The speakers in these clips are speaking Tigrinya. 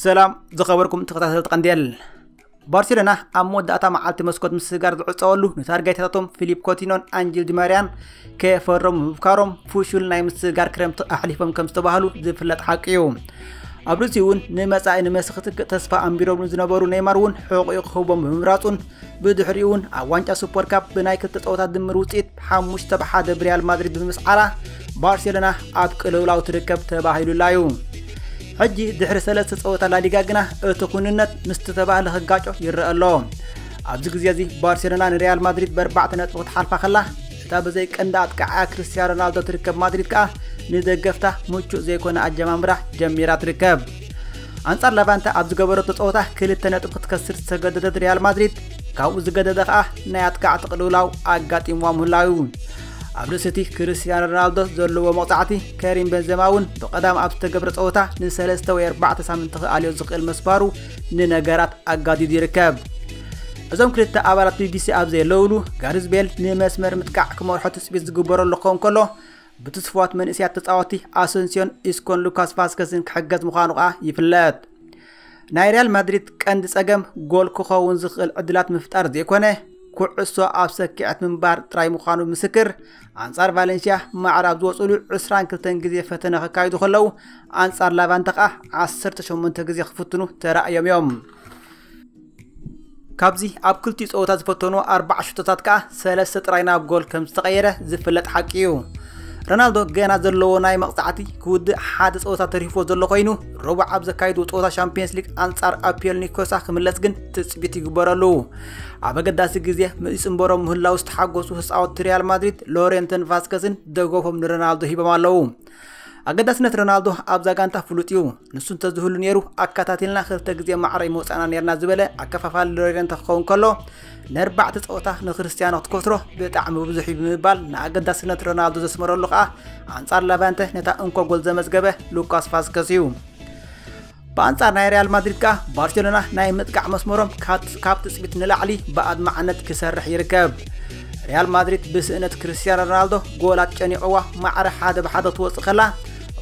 ሰላም ዝኸበርኩም ተኸታተልቲ ቀንዴል ባርሴሎና ኣብ መወዳእታ መዓልቲ መስኮት ምስጋር ዝዕፀወሉ ንታርጋይታታቶም ፊሊፕ ኮቲኖን ኣንጅል ዲማርያን ከየፈረሙ ምብካሮም ፍሹል ናይ ምስግጋር ክረምቲ ኣሕሊፎም ከም ዝተባህሉ ዝፍለጥ ሓቂ እዩ ኣብ ርእሲ እውን ንመጻኢ ንመሲ ክትክእ ተስፋ ኣንቢሮም ዝነበሩ ኔይማር እውን ሕቑኡ ክህቦም ብምምራጹን ብድሕሪ እውን ኣብ ዋንጫ ሱፐር ካፕ ብናይ ክልተ ፀወታ ድምር ውፅኢት ሓሙሽተ ብ ሓደ ብሪያል ማድሪድ ብምስዓራ ባርሴሎና ኣብ ቅልውላው ትርከብ ተባሂሉላ እዩ ሕጂ ድሕሪ ሰለስተ ፀወታ ላሊጋ ግና እቲ ኩንነት ምስቲ ተባህለ ክጋጮ ይረአ ኣሎ ኣብዚ ግዜ እዚ ባርሴሎና ንሪያል ማድሪድ በርባዕተ ነጥቢ ክትሓልፋ ከላ እታ ብዘይ ቀንዲ ኣጥቃዓያ ክርስትያን ሮናልዶ ትርከብ ማድሪድ ከኣ ንደገፍታ ምቹእ ዘይኮነ ኣጀማምራ ጀሚራ ትርከብ ኣንጻር ለቫንተ ኣብ ዝገበረቶ ጸወታ ክልተ ነጥቢ ክትከስር ዝተገደደት ሪያል ማድሪድ ካብኡ ዝገደደ ከኣ ናይ ኣጥቃዕቲ ቅልውላው ኣጋጢምዋ ምህላው እዩ ኣብ ርእሲ እቲ ክርስትያኖ ሮናልዶ ዘለዎ መቕጻዕቲ ከሪም በንዘማ እውን ብቐዳም ኣብ ዝተገብረ ጸወታ ንሰለስተ ወይ ኣርባዕተ ሳምንቲ ክኣልዮ ዝኽእል መስባሩ ንነገራት ኣጋዲዱ ይርከብ። እዞም ክልተ ኣባላት ቢቢሲ ኣብ ዘለውሉ ጋሪዝ ቤል ንመስመር ምጥቃዕ ክመርሖ ትፅቢት ዝግበረሉ ክኸውን ከሎ ብትስፍዋት መንእስያት ተፃወቲ ኣሰንሲዮን ኢስኮን ሉካስ ቫስከስን ክሕገዝ ምዃኑ ከዓ ይፍለጥ። ናይ ሪያል ማድሪድ ቀንዲ ጸገም ጎል ክኸውን ዝኽእል ዕድላት ምፍጣር ዘይኮነ ኩዕሶ ኣብ ሰኪዐት ምንባር ጥራይ ምዃኑ ምስክር ኣንጻር ቫለንስያ ማዕረ ኣብ ዝወፅሉ 22 ግዜ ፈተነ ከካይዱ ከለዉ ኣንጻር ላቫንተ ከኣ 18 ግዜ ክፍትኑ ተራእዮም እዮም። ካብዚ ኣብ ክልቲኡ ፀወታ ዝፈተኑ ኣርባዓ ሽቶታት ከኣ ሰለስተ ጥራይ ናብ ጎል ከም ዝተቐየረ ዝፍለጥ ሓቂ እዩ ሮናልዶ ገና ዘለዎ ናይ መቕፃዕቲ ክውድእ ሓደ ፀወታ ተሪፍዎ ዘሎ ኮይኑ ረቡዕ ኣብ ዘካይዱ ፀወታ ሻምፒየንስ ሊግ ኣንጻር ኣፒየል ኒኮሳ ክምለስ ግን ትፅቢት ይግበረሉ ኣብ ኣገዳሲ ግዜ ምስ ይጽንበሮም ምህላው ዝተሓጎሱ ህፃወቲ ሪያል ማድሪድ ሎሬንተን ቫስከስን ደገፎም ንሮናልዶ ሂቦም ኣለዉ ኣገዳስነት ሮናልዶ ኣብዛ ጋንታ ፍሉጥ እዩ ንሱ እንተዝህሉ ነይሩ ኣከታቲልና ክልተ ግዜ ማዕረ ምውፃእና ነርና ዝበለ ኣከፋፋሊ ሎሬንተ ክኸውን ከሎ ንኣርባዕተ ፀወታ ንክርስትያኖ ክትከስሮ ብጣዕሚ ብዙሕ እዩ ብምባል ንኣገዳስነት ሮናልዶ ዘስመረሉ ከዓ ኣንፃር ላቫንተ ነታ እንኮ ጎል ዘመዝገበ ሉካስ ቫስከስ እዩ ብኣንጻር ናይ ሪያል ማድሪድ ከኣ ባርሴሎና ናይ ምጥቃዕ መስመሮም ካብ ትጽቢት ንላዕሊ ብኣድማዕነት ክሰርሕ ይርከብ። ሪያል ማድሪድ ብስእነት ክርስትያኖ ሮናልዶ ጎላት ጨኒቕዋ ማዕረ ሓደ ብሓደ ትወፅእ ከላ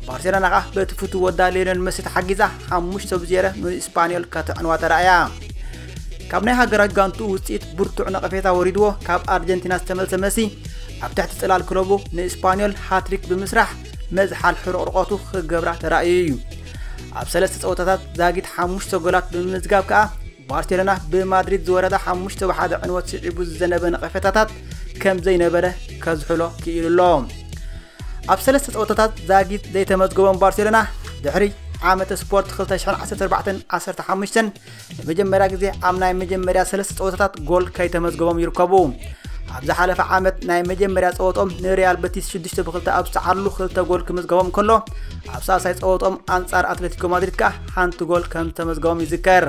ባርሴሎና ከኣ በቲ ፍቱ ወዳ ሌዮነል መሲ ተሓጊዛ ሓሙሽተ ብዜረ ንስፓኒዮል ከተዕንዋ ተራእያ ካብ ናይ ሃገራዊ ጋንቱ ውፅኢት ብርቱዕ ነቐፌታ ወሪድዎ ካብ ኣርጀንቲና ዝተመልሰ መሲ ኣብ ትሕቲ ፅላል ክለቡ ንስፓኒዮል ሃትሪክ ብምስራሕ መዝሓል ሕርቕርቐቱ ክገብራ ተራእዩ እዩ ኣብ ሰለስተ ፀወታታት ዛጊት ሓሙሽተ ጎላት ብምምዝጋብ ከኣ ባርሴሎና ብማድሪድ ዝወረዳ ሓሙሽተ ብሓደ ዕንወት ስዒቡ ዝዘነበ ነቐፌታታት ከም ዘይነበረ ከዝሕሎ ክኢሉ ኣሎ ኣብ ሰለስተ ፀወታታት ዛጊት ዘይተመዝገቦም ባርሴሎና ድሕሪ ዓመተ ስፖርት 2014 15 ንመጀመርያ ግዜ ኣብ ናይ መጀመርያ ሰለስተ ፀወታታት ጎል ከይተመዝገቦም ይርከቡ። ኣብ ዝሓለፈ ዓመት ናይ መጀመርያ ጸወቶም ንሪያል በቲስ 6 ብ2 ኣብ ዝተዓሉ ክልተ ጎል ክምዝገቦም ከሎ ኣብ ሳልሳይ ጸወቶም ኣንጻር ኣትሌቲኮ ማድሪድ ከኣ ሓንቲ ጎል ከም ተመዝገቦም ይዝከር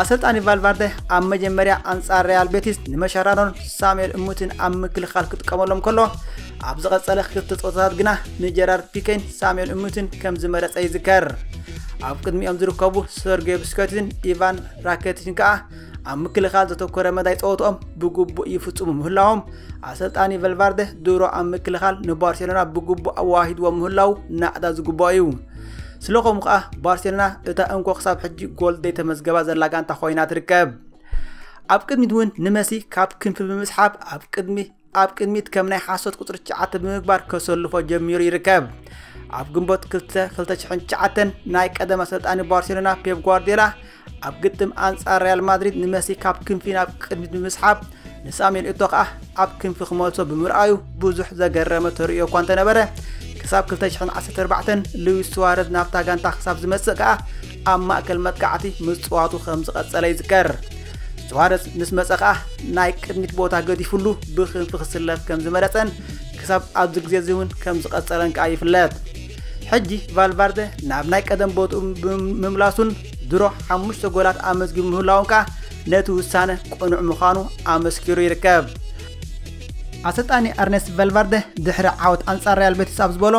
ኣሰልጣኒ ቫልቫርደ ኣብ መጀመርያ ኣንጻር ሪያል ቤቲስ ንመሻራኖን ሳሙኤል እሙትን ኣብ ምክልኻል ክጥቀመሎም ከሎ ኣብ ዝቐጸለ ክልተ ጸወታታት ግና ንጀራርድ ፒኬን ሳሙኤል እሙትን ከም ዝመረጸ ይዝከር። ኣብ ቅድሚኦም ዝርከቡ ሰርጌ ብስከቲን ኢቫን ራኬቲችን ከኣ ኣብ ምክልኻል ዘተኮረ መዳይ ጸወትኦም ብግቡእ ይፍጽሙ ምህላዎም ኣሰልጣኒ ቨልቫርደ ድሮ ኣብ ምክልኻል ንባርሴሎና ብግቡእ ኣዋሂድዎ ምህላው ናእዳ ዝግብኦ እዩ ስለኸምኡ ከኣ ባርሴሎና እታ እንኮ ክሳብ ሕጂ ጎል ዘይተመዝገባ ዘላ ጋንታ ኮይና ትርከብ ኣብ ቅድሚት እውን ንመሲ ካብ ክንፊ ብምስሓብ ኣብ ቅድሚ ኣብ ቅድሚት ከም ናይ ሓሶት ቁፅሪ ትሽዓተ ብምግባር ከሰልፎ ጀሚሩ ይርከብ። ኣብ ግንቦት 2 2009 ናይ ቀደም ኣሰልጣኒ ባርሴሎና ፔፕ ጓርዲዮላ ኣብ ግጥም ኣንጻር ሪያል ማድሪድ ንመሲ ካብ ክንፊ ናብ ቅድሚት ብምስሓብ ንሳሙኤል እቶ ከኣ ኣብ ክንፊ ክመልሶ ብምርኣዩ ብዙሕ ዘገረመ ተርእዮ እኳ እንተነበረ ክሳብ 214 ሉዊስ ስዋረዝ ናብታ ጋንታ ክሳብ ዝመጽእ ከኣ ኣብ ማእከል መጥቃዕቲ ምጽዋቱ ከም ዝቐጸለ ይዝከር። ሱዋረዝ ምስ መጸ ከኣ ናይ ቅድሚት ቦታ ገዲፍሉ ብክንፊ ክስለፍ ከም ዝመረጸን ክሳብ ኣብዚ ግዜ እዚ እውን ከም ዝቐጸለን ከኣ ይፍለጥ። ሕጂ ቫልቫርደ ናብ ናይ ቀደም ቦትኡ ብምምላሱን ድሮ ሓሙሽተ ጎላት ኣመዝጊቡ ምህላውን ከኣ ነቲ ውሳነ ቅኑዕ ምዃኑ ኣመስኪሩ ይርከብ። ኣሰልጣኒ ኣርነስት ቫልቫርደ ድሕሪ ዓወት ኣንጻር ሪያል ቤቲስ ኣብ ዝበሎ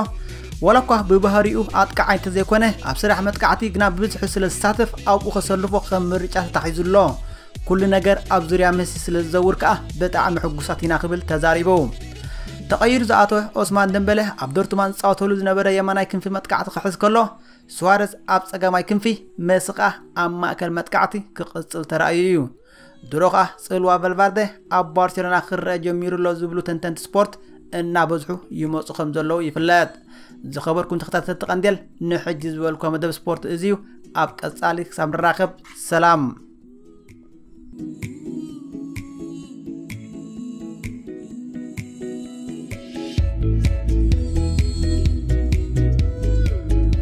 ዋላ እኳ ብባህሪኡ ኣጥቃዓይ እንተዘይኮነ ኣብ ስራሕ መጥቃዕቲ ግና ብብዝሒ ስለ ዝሳተፍ ኣብኡ ከሰልፎ ከም ምርጫ ተታሒዙ ኣሎ። ኩሉ ነገር ኣብ ዙርያ መሲ ስለ ዝዘውር ከኣ ብጣዕሚ ሕጉሳት ኢና ክብል ተዛሪቡ። ተቐይሩ ዝኣተወ ኦስማን ደምበለ ኣብ ዶርትማን ዝጻወተሉ ዝነበረ የማናይ ክንፊ መጥቃዕቲ ክሕዝ ከሎ ስዋረዝ ኣብ ጸጋማይ ክንፊ መሲ ከኣ ኣብ ማእከል መጥቃዕቲ ክቕጽል ተራእዩ እዩ። ድሮ ከኣ ጽልዋ ቨልቫርደ ኣብ ባርሴሎና ክረአ ጀሚሩ ኣሎ ዝብሉ ተንተንቲ ስፖርት እናበዝሑ ይመፁ ከም ዘለዉ ይፍለጥ። ዝኸበርኩም ተኸታተልቲ ቀንዴል ንሕጂ ዝበልኩ መደብ ስፖርት እዚ እዩ። ኣብ ቀጻሊ ክሳብ ንራኸብ ሰላም።